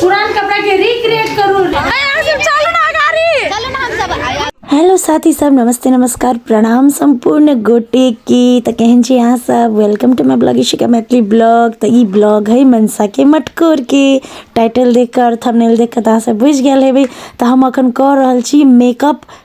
पुरान कपड़ा के रिक्रिएट करू चलू ना गाड़ी चलू ना हम सब हेलो साथी सब नमस्ते नमस्कार प्रणाम सम्पूर्ण गोटे के त केहन छी अहाँ सब welcome to my blog Ishika Maithili blog त ई ब्लॉग है मनसा के मटकोर के टाइटल देख कर थंबनेल देख कर अहाँ सब बुझ गए हेबे त हम अखन कह रहल छी मेकअप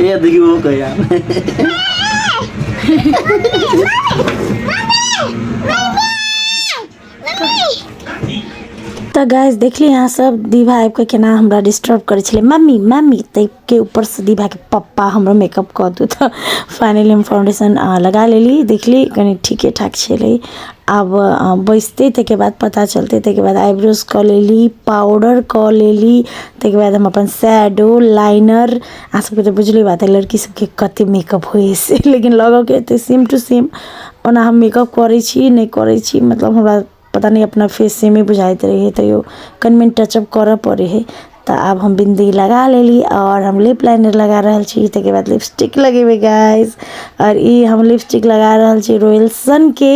ये देखिए वो कह यार तो गैस देख ली यहाँ सब दीभा आबि के केना हमरा डिस्टर्ब करे छे मम्मी मम्मी ताहि के ऊपर से दीभा के पप्पा हमरा मेकअप कर दू तो फाइनली हम फाउंडेशन लगा लेली देखली कनी ठीके ठाक छे आब बैसतै ताहिके बाद पता चलतै ताहिके बाद आइब्रोज कऽ लेली पाउडर कऽ लेली ताहिके बाद हम अपन शैडो लाइनर अहाँसभके तऽ बुझले बात अइ लड़कीसभके कतेक मेकअप होइ हइ से लेकिन लगके एतेक सेम टू सेम ओना हम मेकअप करै छी नहि करै छी मतलब हमरा पता नहि अपना फेस सेमे बुझाइत रहैए तैओ कनि मनि टचअप करऽ पड़ै हइ तऽ आब हम बिन्दी लगा लेली आओर हम लिप लाइनर लगा रहल छी ताहिके बाद लिपस्टिक लगेबै गाइस आओर ई हम लिपस्टिक लगा रहल छी रोयल्सनके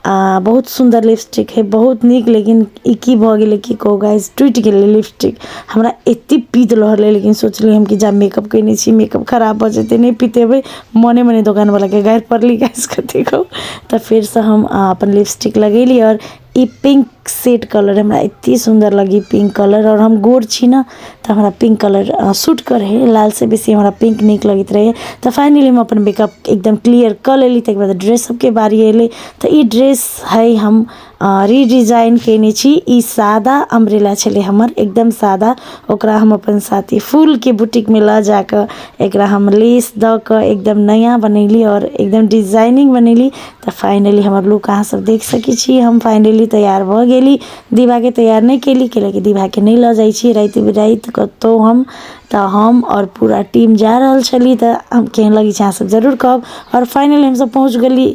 आ बहुत सुन्दर लिपस्टिक हइ बहुत नीक लेकिन ई की भऽ गेलै की कहू गाइस टूटि गेलै लिपस्टिक हमरा एतेक पीत रहलै लेकिन सोचली हम कि जा मेकअप कयने छी मेकअप खराब भऽ जेतै नहि पितेबै मोने मोने दोकानवलाके गारि पड़ली गाइस कथी कहू तऽ फेरसँ हम अपन लिपस्टिक लगेली आओर इ पिंक सेट कलर हमरा एते सुन्दर लगी पिंक कलर और हम गोर छी ना ते हमरा पिंक कलर अ सूट करे हेय लाल से बेसी हमरा पिंक निक लगेएत रहे ये ते फाइनली हम अपन मेकअप एकदम क्लियर केए लेली ते के बाद ड्रेस सब के बारी एले ते इ ड्रेस हेय हम अ रीडिजाइन केएने छी इ सादा अंब्रेला छले हमर एकदम सादा ओकरा हम अपन साथी फूल के बुटीक में ले जाके एकरा हम लेस द के एकदम नया बनेली और एकदम डिजाइनिंग बनेली। तऽ फाइनली हमर लुक अहाँ सब देख सकै छी हम फाइनली तैयार भऽ गेली दिभाके तैयार नहि केली कैला की दिभाके नहि लऽ जाइ छी राति बिराति कतौ हम तऽ हम आओर पूरा टीम जा रहल छली तऽ हम केहन लगै छै अहाँ सब जरूर कहब आओर फाइनली हमसब पहुँच गेली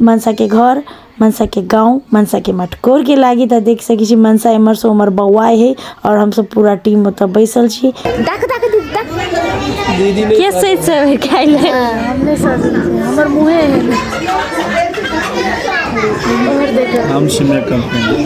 मनसाके घर मनसाके गाँव मनसाके मटकोरके लागि तऽ देख सकै छी मनसा एमहर सँ ओमहर बौआइ हय आओर हमसभ पूरा टीम ओतऽ बैसल छी तक तक तक के सैत से खाइ ले हमर मुँहे हम शिमला कंपनी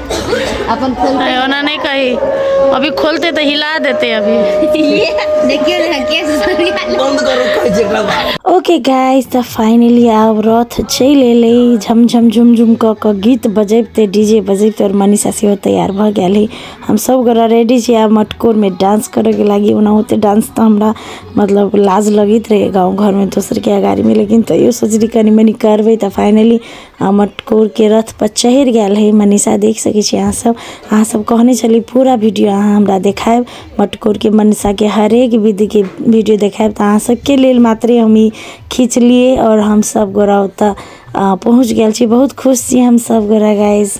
अपन खोलते ओना नहि कही अभी खोलते तऽ हिला देते अभी देखियौ ने केस बंद करो कहै छै एकरा बाप ओके गाइस तऽ फाइनली आब रथ चलि एलै झमझम झुमझुम कऽ कऽ गीत बजैबते डी जे बजैबते आओर मनीषा सेहो तैयार भऽ गेल है हम सब गोरा रेडी छी आब मटकोरमे डांस करैके लागि ओना ओते डांस तऽ हमरा मतलब लाज लगैत रहै गाँव घरमे दोसरके अगाड़ीमे लेकिन तैयो सोचली कनी मनी करबै तऽ फाइनली आ मटकोर के रथ पर चढ़ गेल है मनीषा देख सके छी अहाँ सब अहाँ सब कहने छली पूरा वीडियो अहाँ हमरा देखायब मटकोर के मनीषा के हरेक विधि के वीडियो देखायब तऽ अहाँ सबके लेल मात्रे हम ई खींचलियै और हम सब गोरा ओतऽ आ, पहुँच गेल छी बहुत खुश छी हम सब गोरा गाइस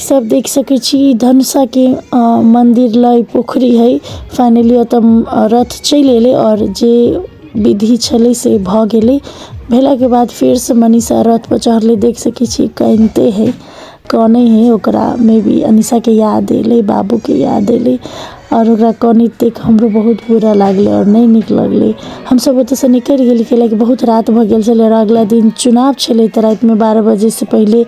सब देख सके छी इ धनुषा के अ मंदिर ल इ पोखरी हेय फाइनली एता रथ चेल एले और जे विधि छले से भ गेले भेला के बाद फेर से मनीषा रथ पर चढ़ले देख सके छी कानते हेय काने हेय ओकरा मे भी अनीशा के याद एले बाबू के याद एले और ओकरा कानैत देख हमरो बहुत बुरा लागले और ने नीक लगले हम सब ओता से निकेल गेलिए कहे ले बहुत रात भ गेल छले और अगला दिन चुनाव छले ते रात में बारा बजे से पहले --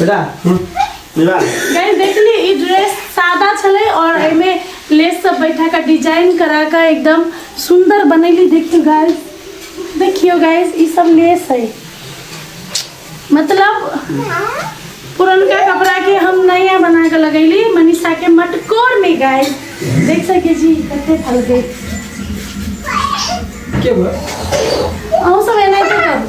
बेटा विवाह गाइस देखली ई ड्रेस सादा छले और एमे लेस सब बैठा का डिजाइन करा का एकदम सुंदर बनैली देखियो गाइस देखियो गाइस ई सब लेस है मतलब पुरनका कपड़ा के हम नया बना के लगैली मनीषा के मटकोर में गाइस देख सके जी कते फल गए के बा अहू सब एनाहिते करू